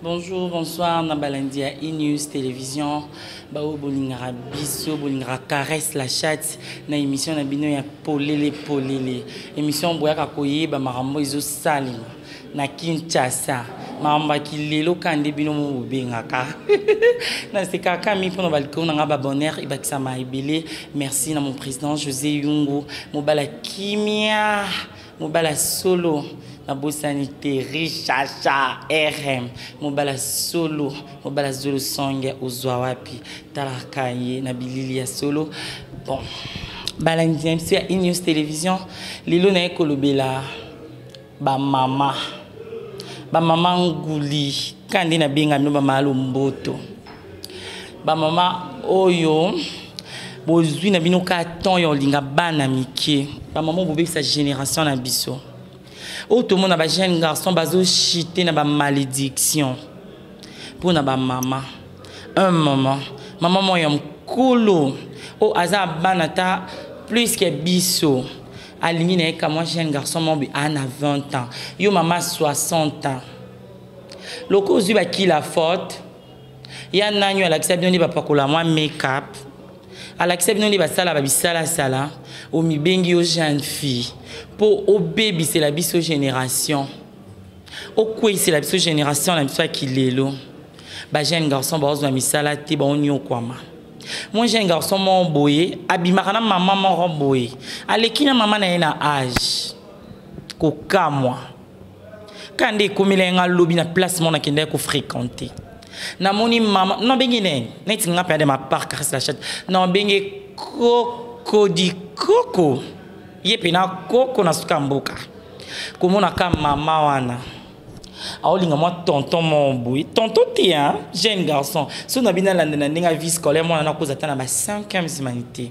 Bonjour, bonsoir, Nabalandia E-News Télévision. Bao bolingaka biso, bolingaka caresse la chatte na émission na bino ya polele polele. Émission boyaka koyeba makambo ezo salima na Kinshasa. Makambo ya kilelo ka nde bino mo bobengaka. na sekaka mi mpona balikolo na ngai babonheur ebakisama ebele. Merci na mon président José Yungu, mobala kimia. mobala solo nabosani te richasha rm mobala solo mobala zolo songe ozwa wapi talaka ye na bilili ya solo bon balandi na biso ya inews télévision lelo naye kolobela bamama bamama nguli kande nabengami bamama lomboto bamama oyo bozwi na bino ka temps ya olinga bana mike bamama oyo bobebisa génération na biso oyo tomona bajeune garçon bazochite na bamalédiction mpo na bamama un moment mama moko ya mokolo oyo aza bana ata plus ke biso alingi na ye kamwa jeune garçon mobi aa na 20 ans yo mama 60 ans loko ozwi bakila faute ya nani alakisa bino nde bapakola mwa makeup alakisa bino nde basala babisalasala omibengi yo jeune fille mpo obebisela biso génération okweisela biso génération na biso ya kilelo bajeune garçon baozwa misala te baonyokwama mon jeune garçon moko boye abimaka na mama moko boye aleki na mama na ye na age kokamwa kanda ekomela ye nga lobi na place mona akendaki kofréquente namoni mama nabengi ne neti nga mpe ade mapark kasi la chate nabengi kokodikoko ye mpe na koko na suka mboka komona ka mama wana aolinga mwa tonton moko boye tonton te jeune garçon so na bino alandela ndenge avi scolaire mwana nakoza ata na ba 5 humanité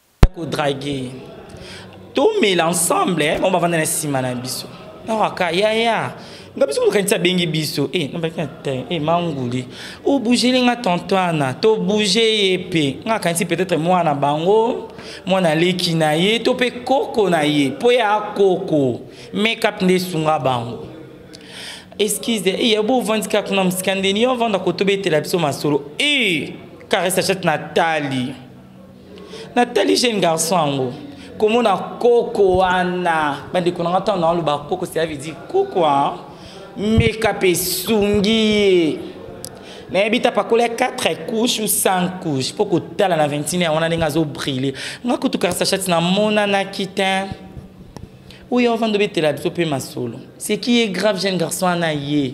ko draguer tomela ensemble eh, bango bavanda na nsima na biso nakaka yaya nga biso kokanisi abengi biso e nabaki te e manguli obugeli nga tonto wana tobouge ye mpe nga akanisi peut-être mwana bango mwana leki na ye to mpe koko na ye mpo ya koko makeup nde esunga bango excuse eye eh, bovandi kaka kuna mosika ndeni yo ovanda kotobetela biso masolo e eh, karesa chat natali natali jeune garçon yango komona koko wana bandeko na nga ntango naoloba koko cela veut dire koko meka mpe esungi ye nayebi ta pakola ya 4 couche ou 5 couche mpo kotala na 21 wana ndenge azobrille nga kutu karsachati namonanaki te oyo avanda obetela biso mpe masolo ce qui est grave jeune garçon wana ye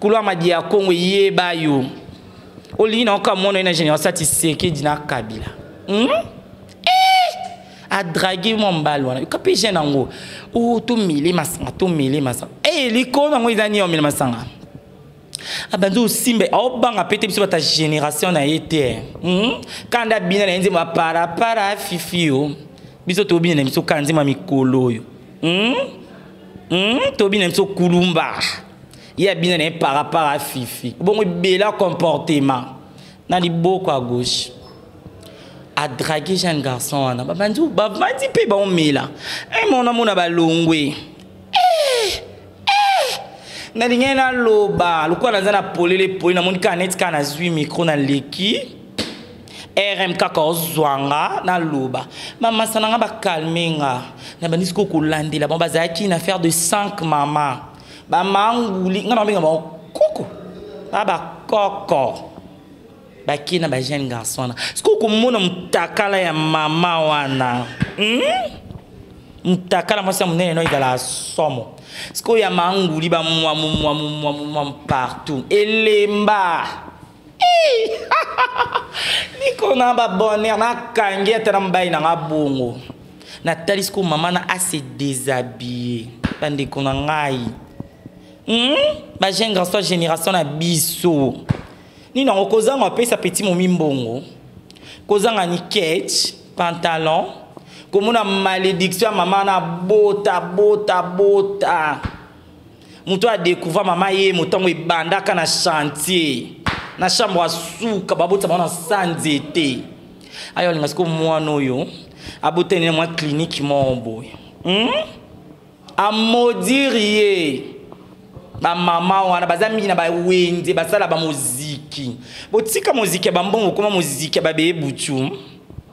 Kulu Amadi ya Kongo yeba yo. Olingi na oka mono na général Sati Sekedi na Kabila. Hmm? Eh! A draguer mon mbalo wana. Kapi jeune yango. O oh, to mele masanga, to mele masanga. Eh, likolo yango ezani yo mele masanga. abanzi osimba aobanga mpe te biso bata génération na ye te hmm? kanda bina na ye nzembo aparapara fifi yo biso tobina na biso kanda nzembo ya mikolo oyo hmm? hmm? tobina na biso kulumba ye abina na ye par rapport a fifi bongo ebela comportement na liboko ya gauche adrage jeune garçon wana babandi bavandi mpe baomela e mona mona balongwe eh, eh. nalingaki naloba lokola naza na polele poli namoni kaka neti kaka nazwi mikro naleki rm kaka ozwa nga naloba bamasa na nga bakalme nga nabandisi ko kolandela bango bazalaki na affaire de 5 mama ba manguli nga na benga ba koko ba ba koko baki na bajeune garçon wana soki okomona motakala ya mama wana hmm? motakala mwasi ya monene no ezala somo sikoyo ya manguli bamwamumwamumwamumwamu partout elemba niko na babonner nakangi ata na mobali na nga bongo natalisi ko mama na ase déshabille bandeko na ngai hmm? bajeune grand soit génération na biso nini yango kozanga apesa peti momi mbongo kozanga ni ketch pantalon komona malédiction ya mama na bota bota bota, bota. moto oyo adecouvra mama ye motango ebandaka na chantier na chambre asuka babotama na sa nzete ayo alinga siko mwana oyo abotani na mwa klinike moko boye hmm? amodire ye bamama wana baza mingi na bawenze basala bamoziki botika moziki ya bambongo okoma moziki ya babeye butu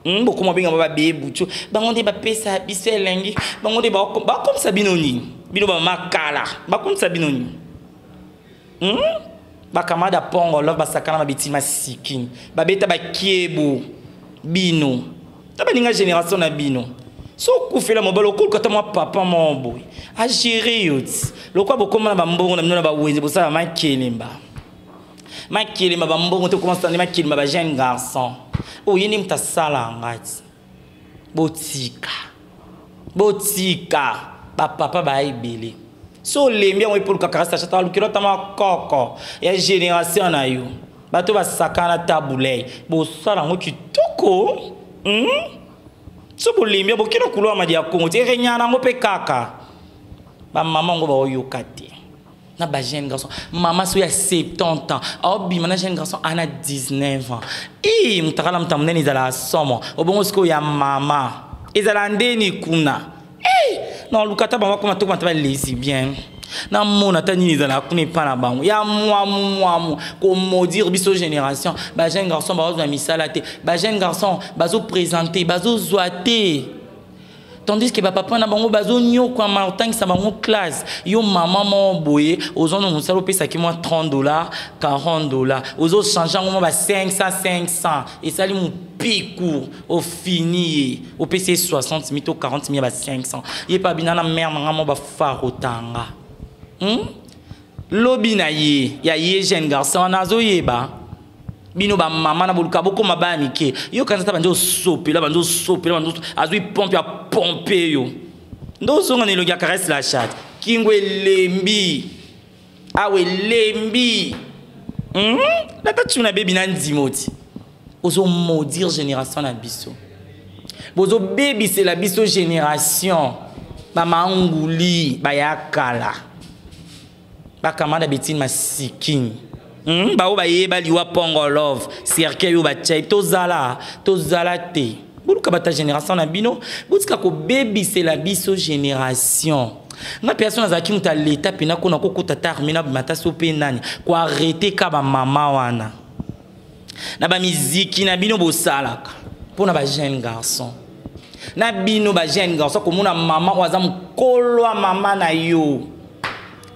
Hmm, bokoma benga ba babeye butu bango nde bapesa biso elengi bango nde bakomisa bino nini bino bamama kala bakomisa bino nini hmm? bakamada pongo love basakana na bitima sikini babeta bakiebo bino ta baninga génération na bino so okufela mobali okoluka ata mwa papa moko boye agere yo ti lokola bokoma na bambongo na bino na bawenze bosala makelemba makelema bambongo te okomasa nde makelema ba jeune garçon oye nde moto asala ngai ti botika botika bapapa baya ebele so olembi yango epoluka karasachata alukeli ata makoko ya génération na yo bato basakana tabulei bosala yango kitoko hmm? so bolembi bokenda kulwa madi ya kongo ti erenyana yango mpe kaka bamama yango baoyoka te na ba jeune garçon mama soki ya 70 ans aobima na jeune garçon ana 19 ans i motakala moto ya monene ezalaka somo obongo sikoyo ya mama ezalaka ndeni kuna na luka ata bango akoma tokoma ata balesi bien namona ata nini ezalaka kuna epai na bango ya mwamu mwamu komaudire biso génération bajeune garçon bazozwa misala te bajeune garçon bazoprésente bazozwa te tandis que bapapa na bango bazonyokwama otangisa bango classe yo mama moko boye ozonda mosala opesaki mwa 30 dollar 40 dollar ozochange yango mwa ba 500 500 esali mopiku ofini ye opesi ye 60 mi to 40 mi ya ba 500 ye mpe abina na mare na ngai mwa bafarotanga hmm? lobi na ye ya ye jeune garçon wana azoyeba bino bamama na boluka bokoma baya mike yo kanisa ata bandi osopela bandi osopela bandi azwi pompe ya pompe yo nde ozonga na elongi ya caresse la chat kingo elembi awa elembi lata mhm. tuna bebi na ndima oti ozo maudire génération na biso bozo bebisela biso génération bamanguli baya kala bakamada betini masikin hmm? baoyo bayeba liwa pongo love cercueil oyo batya tozala tozala te boluka bata génération na bino botika kobebisela biso génération nga mpe yaso nazalaki moto ya leta mpe nakona kokota ta arme na bimata so mpe nani koarrete ka bamama wana na bamiziki na bino bosalaka mpo na bajeune garçon na bino bajeune garçon komona mama oyo aza mokolo ya mama na yo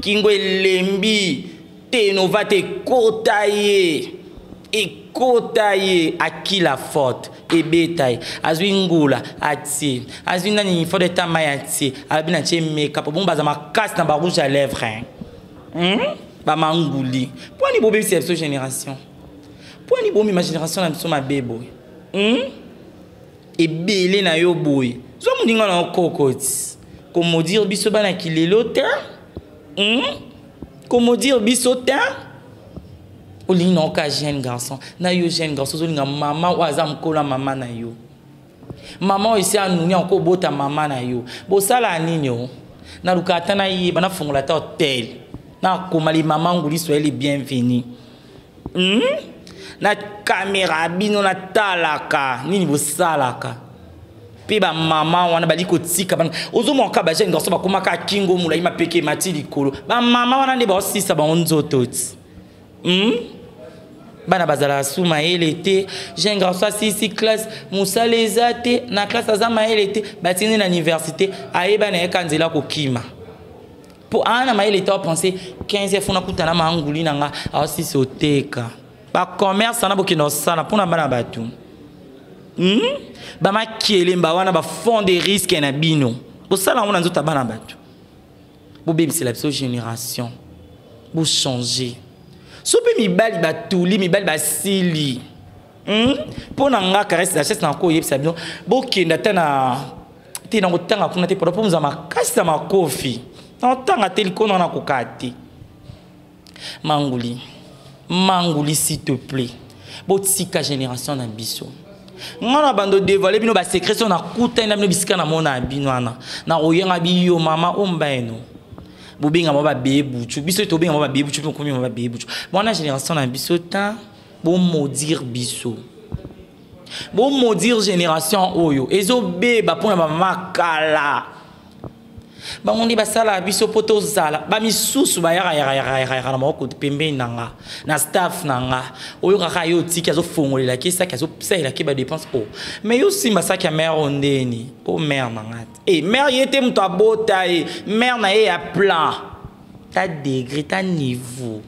kingo elembi tenova te ekota ye ekota ye akila forte ebeta ye azwi ngula atie azwi nani fode tama ye atie alobi na tie meka po bongo baza makasi na barouge ya lèvre hein. hmm? bamanguli mpo ani bobebisa ya biso génération mpo ani bomema génération na biso mabe boye hmm? ebele na yo boye zwa moninga na yo kokoti komodire biso bana kilelo te hmm? komodire biso te olingi na yo ka jeune garçon na yo jeune garçon ozolinga mama oyo aza mokolo ya mama na yo maman esi anuni yango kobota mama na yo bosala nini o naluka ata nayeba nafongola ata hotel nakoma limama nguli swahili bienvenu hmm? na kamera bino natalaka nini bosalaka mpe bamama wana bali kotika bana ozomona kaka bajeune garso bakomaka kingo molai mapeke emati likolo bamama wana nde baosisa bango nzoto ti hmm? bana bazalaka su mayele te jeune garçon asilisi classe mosala eza te na classe aza mayele te batindi na université ayeba na ye ka nzela kokima mpo aa na mayele te apense 15 fona kutana maanguli na nga aosisi oteka bacommerce wana bokenda kosala mpo na bana bato hmm? bamakelemba wana bafond de risque na bino bosala yango na nzoto ya bana bato bobebisela biso génération bochange so mpe mibali batuli mibali basili hmm? mpo na nga caresse dachesse na koyebisa bino bokenda ata na te na kotanga kuna te pada mpo moza makasi na makofi na kotanga te likolo na kokaa te Manguli. Manguli s'il te plaît. Botika génération na biso. nga na bando dévoiler bino ba secret so na kuta na bino bisika na mona bino wana na koyenga biyo mama ombaeno bobenga ba bebe buchu biso to benga ba bebe buchu ko komi ba bebe buchu mwana génération na biso ta bo maudire biso bo maudire génération oyo ezo beba pona ba makala bango nde basalaka biso mpo tozala bamisusu bayakayakayakayaka na maboko pembeni na nga na staff na nga oyokaka ye otiki azofongolela ke saki azosalela ke badepense o oh. mai yo simba saki ya mare o oh, ndeni o oh, mare na nga te e eh, mare ye te moto abota ye mare na ye ya plan ta degre ta niveau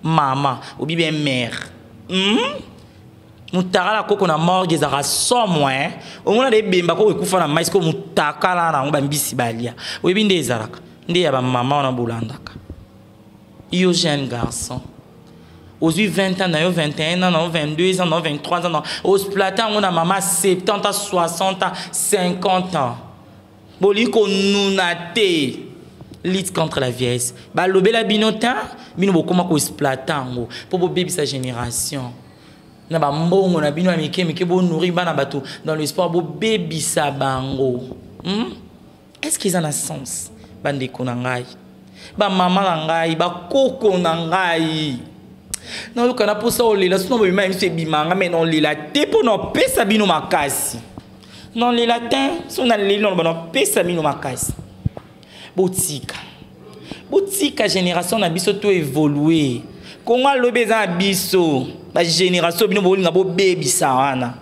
mama obi bien mère mm? mutakala koko na morgue ezalaka somo e eh? omona de ebemba koko ekufa na mai siko mutakala na yango bambisi balia oyebi nde ezalaka nde ya bamama wana bolandaka yo jeune garçon ozwi 20 ans na yo 21 ans na yo 22 ans na yo 23 ans na osplate yango na mama 70 ans 60 ans 50 ans bolingi konuna te lutte contre la vieillesse balobela bino ta bino bokoma koexploite yango mpo bobebisa génération na bambongo na bino ya mike mike bonuri bana bato dans le sport bobebisa bango hmm? est ce que eza na sens bandeko na ngai bamama na ngai bakoko na ngai nayoka na mposa olela sino bobima ya miso ebimanga mai naolela te mpo na opesa bino makasi Non, les latins sont dans les langues, on pèse mino makasi. Botika. Botika génération na biso to évoluer. Kongo alobi eza na biso. Ba génération bino bolinga bo bebisa wana.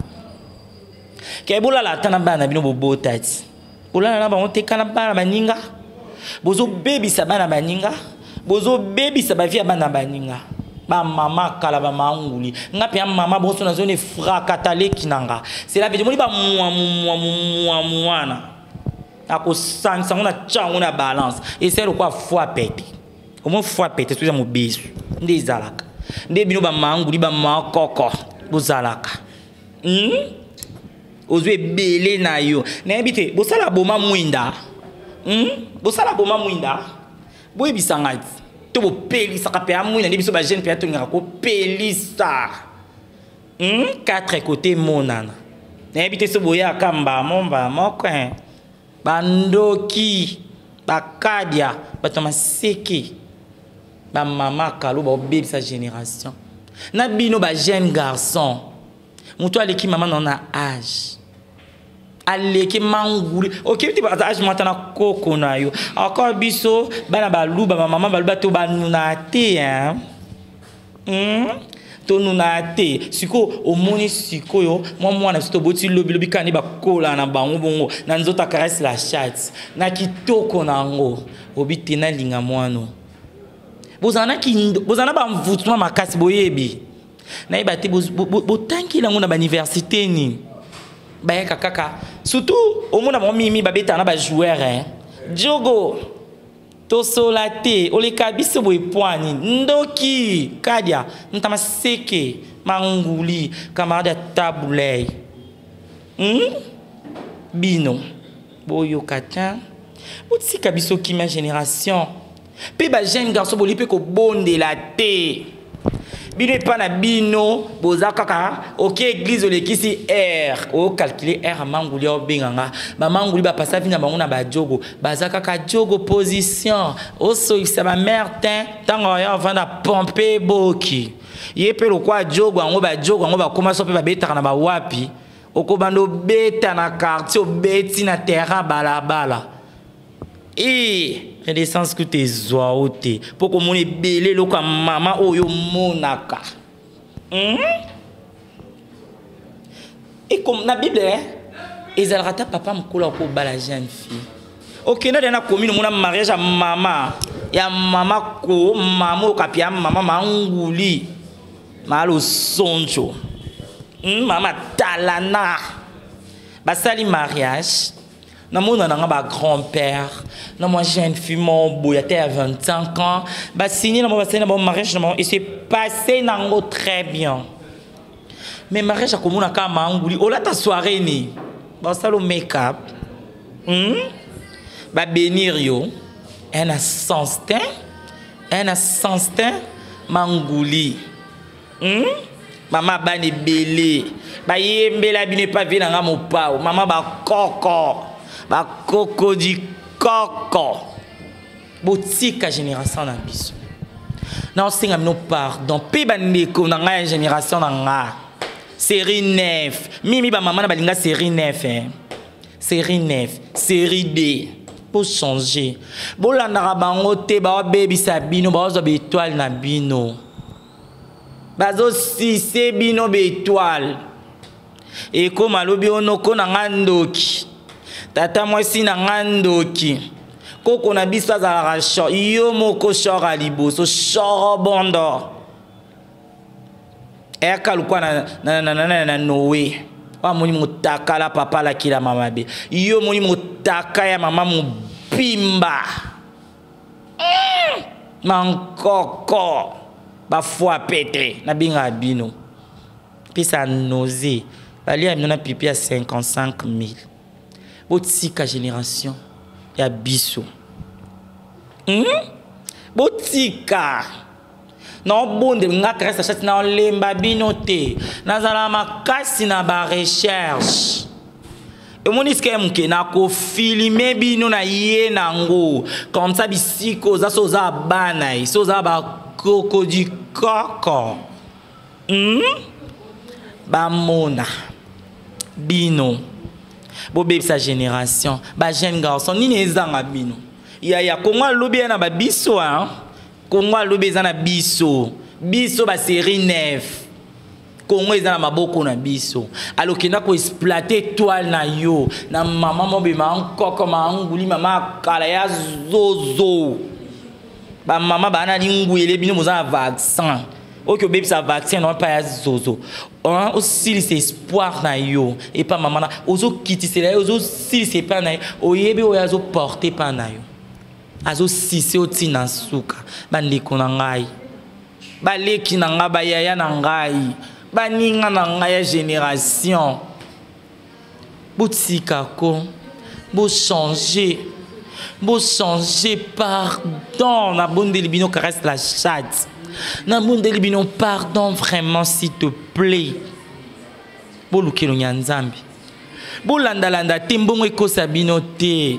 Ke bola la tana bana bino bo botati. Bola na bango te kana bana baninga. Bozo bebisa bana baninga. bozo bebisa ba vie ya bana baninga ba mama kala ba manguli nga pe mama bonso na zone frakata leki nanga c'est la vie moni ba mwa mwa mwa mwana akosangisa ngo na tya ngo na balance esali lokola foi pete omoi foi pete soki eza mobesu nde ezalaka nde bino bamanguli bamakoko bozalaka hmm? ozwi ebele na yo nayebi te bosala boma mwinda hmm? bosala boma mwinda boyebisa ngai to bopelisaka mpe ya mwinda nde biso bajeune mpe atongaka kopelisa hmm? quatre kote emonana nayebi te so boyaka mbamo mbamoko bandoki bakadia bato ya maseke bamama kalo baobebisa génération na bino bajeune garçon moto aleki mama nao na age aleki manguli okebi te baza age mwata na koko na yo encore biso bana baluba bamama baluba to banuna te hein? Hum, tonunaa te sikoyo omoni sikoyo mwa mwana biso toboti lobilobi kani bakola na bango bongo na nzoto akarese la chate na kitoko na yango obi te nalinga mwano bozala na kindo bozala na bamvutuma makasi boyebi nayeba te botangi yango na bauniversité nini bayaka kaka surtout omona bango mimi babetaka na bajoueur eh. jogo Tosola te oleka biso boye pwani ndoki kadia ntama seke manguli camarade ya tabulei hmm? bino boyoka te botika biso kimia génération mpe bajeune garçon boli mpe kobondela te bino epa na bino boza kaka oke eglise olekisi r ocalcule r amanguli obenga nga bamanguli bapasa vi na bango na bajogo baza kaka jogo position osoyisa bamare te ntango oya ovanda pompe boki ye mpe lokwa jogo yango bajogo yango bakoma so mpe babetaka na bawapi okobanda obeta na quartier obeti na terrain balabala ee renaissance kuta ezwa yo te mpo komona ebele eloko ya mama oyo omonaka hmm? na bible eh? ezalaka ata papa mokolo akobala jeune fille okenda de na commune omona mariage ya mama ya mama ko mama okapi ya mama manguli malosonjo hmm, mama talana basali mariage namona nanga ba grand père na mwa jeune fille mo boya te ya 25 ans basigne na bango basali na bango mariage na bango ese passe nango très bien mais mariage akomona kaka manguli olata soirée ni basalo makeup hmm? babenir yo un assentin un assentin manguli hmm? mama bana ebele bayembela bino epa vie na nga mopao mama bakoko bakoko di koko botika génération na biso naosenga bino pardon mpe bandeko na ngai ya génération na nga série 9 mimi bamama na balinga série 9 eh. série 9 série 2 bochange bolandaka bango te baobebisa bino baozwa baetoile na bino bazo sise bino betoile ekoma lobi onoko na nga ndoki tata mwasi na nga ndoki koko na biso azalaka shor yo moko shor ya liboso shorobondo eyaka lokwa na, na, na, na, na, na noe amoni motakala papa alakela mama mabe yo omoni motaka ya mama mobimba mankoko bafwa pete nabengaka bino pesa nausée balia bino na pipi ya 55 000 botika génération ya biso hmm? botika naobondela nga kriste ashati naolemba bino te nazala makasi na barecherche omoni sika ya moke nakofilime bino na ye nango comme ça bisika oza so oza bana ye so oza bakoko du koko hmm? bamona bino bobebisa génération bajeune garçon nini ezanga bino yaya kongo alobi ya na babiso hein? Congo alobi eza na biso. Biso ba série 9. Congo eza na maboko na biso. Alokenda ko exploiter étoile na yo na maman mobema nkoko ma nguli mama kala ya zozo. Ba mama bana lingwele bino boza na vaccin. oki obebisa vaccin na epai ya zozo osilisa espoir na yo epai mama na ozokitisela ye ozosilisa epai na ye oyebi oyo azoporte epai na yo azo sise yo ti na suka bandeko na ngai baleki na ngai bayaya na ngai baninga na ngai ya génération botika ko bochange bochange pardon nabondeli bino caresse la chatte nabondeli bino pardon vraiment s'il te plaît bolukelo ya nzambe bolandalanda te mbongo ekosa bino te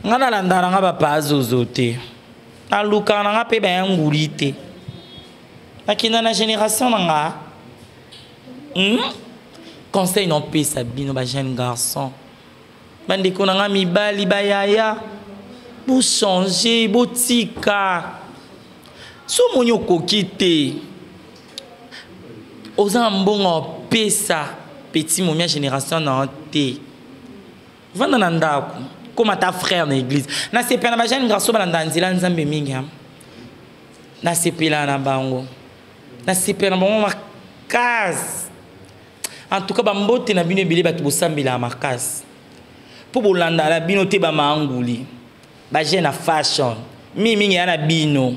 nga nalandaka na nga bapaa zozo te nalukaka na nga mpe baya nguli te nakenda na génération na nga hmm? conseil naopesa bino bajeune garçon bandeko na nga mibali bayaya bochange botika so omoni okoki te oza na mbongo opesa petit momia génération na yo te vanda na ndako koma ta frère na église nasepela na bajane garço balanda nzela nzambe mingi ha nasepela na bango nasepela na bango makasi en tout cas bambote na bino ebele bato bosambelaka makasi mpo bolanda na bino te bamaanguli bajene na fashion mingimingi ya na bino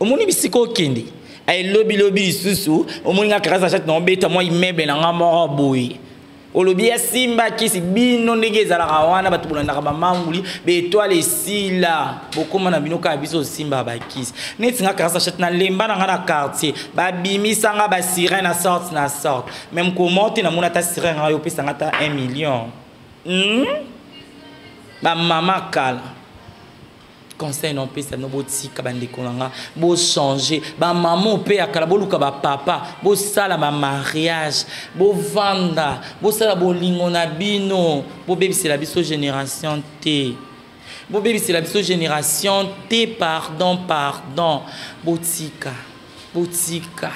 omoni bisika okende elobilobi lisusu omoni nga karasa chate na obeta mwa immeuble na nga moko boye olobi asimba kisi bino ndenge ezalaka wana bato bolandaka bamanguli baetoile esila bokoma na bino kaka biso osimba bakisi neti nga karasa chate na lemba na nga na quartier babimisa nga basirene na sorte na sorte meme comment te namona ata sirene nga yo opesa nga ata 1 million hmm? bamama kala conseil na opesa bino botika bandeko na nga bochange bamama mpe ya kala boluka bapapa bosala bamariage bovanda bosala bolingo na bino bobebisela biso génération te bobebisela biso génération te pardon pardon botika botika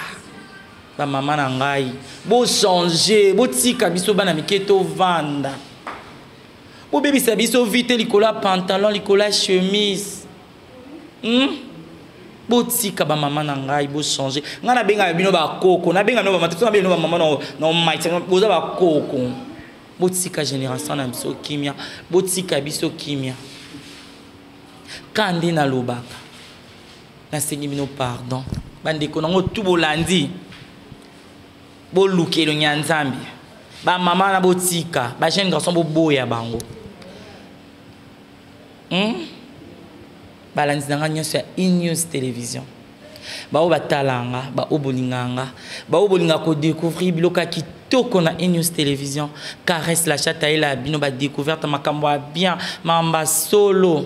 bamama na ngai bochange botika biso bana mike tovanda bobebisa biso vie te likolo ya pantalon likolo ya chemise hmm? botika bamama na ngai bochange ngai nabengaka bino bakoko nabenga bino bamata nabenga bino bamama na omaiti boza bakoko botika génération na biso kimia botika biso kimia ka nde nalobaka nasengi bino pardon bandeko nango tu bolandi boluka elongi ya nzambe bamama wana botika bajeune garçon boboya bango hmm? balandi na ngai nyonso ya inews télévision baoyo batala nga baoyo bolinga nga baoyo bolinga kodécouvrir biloko ya kitoko na inews télévision caresse la chat ayela ya bino badécouverte makambo ya bien mamba solo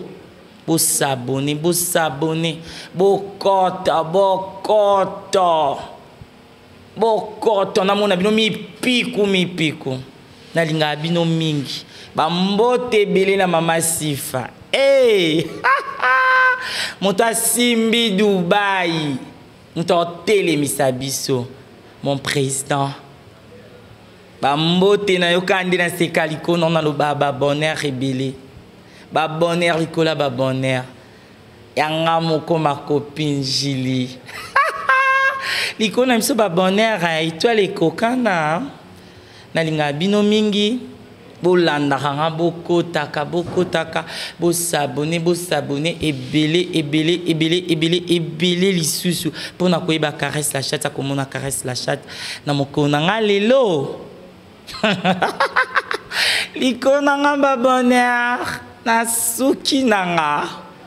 bosabone bosabone bokota bokota bokoto namona bino mipiku mipiku nalingaka bino mingi bambote ebele na mama sifa hey! Eh! moto asimbi dubai moto akotelemisa biso mon président bambote nayokaa nde naseka likono naloba babonheur ebele babonheur likolo ya babonheur yanga moko makopinjili likolo na biso babonheur ya etoile ekokana nalingaka bino mingi bolandaka nga bokotaka bokotaka bosabone bosabone ebele ebele ebele ebele ebele lisusu mpo na koyeba caresse la chatte akomona caresse la chatte na mokolo na nga lelo likolo na nga babonheur nasuki na nga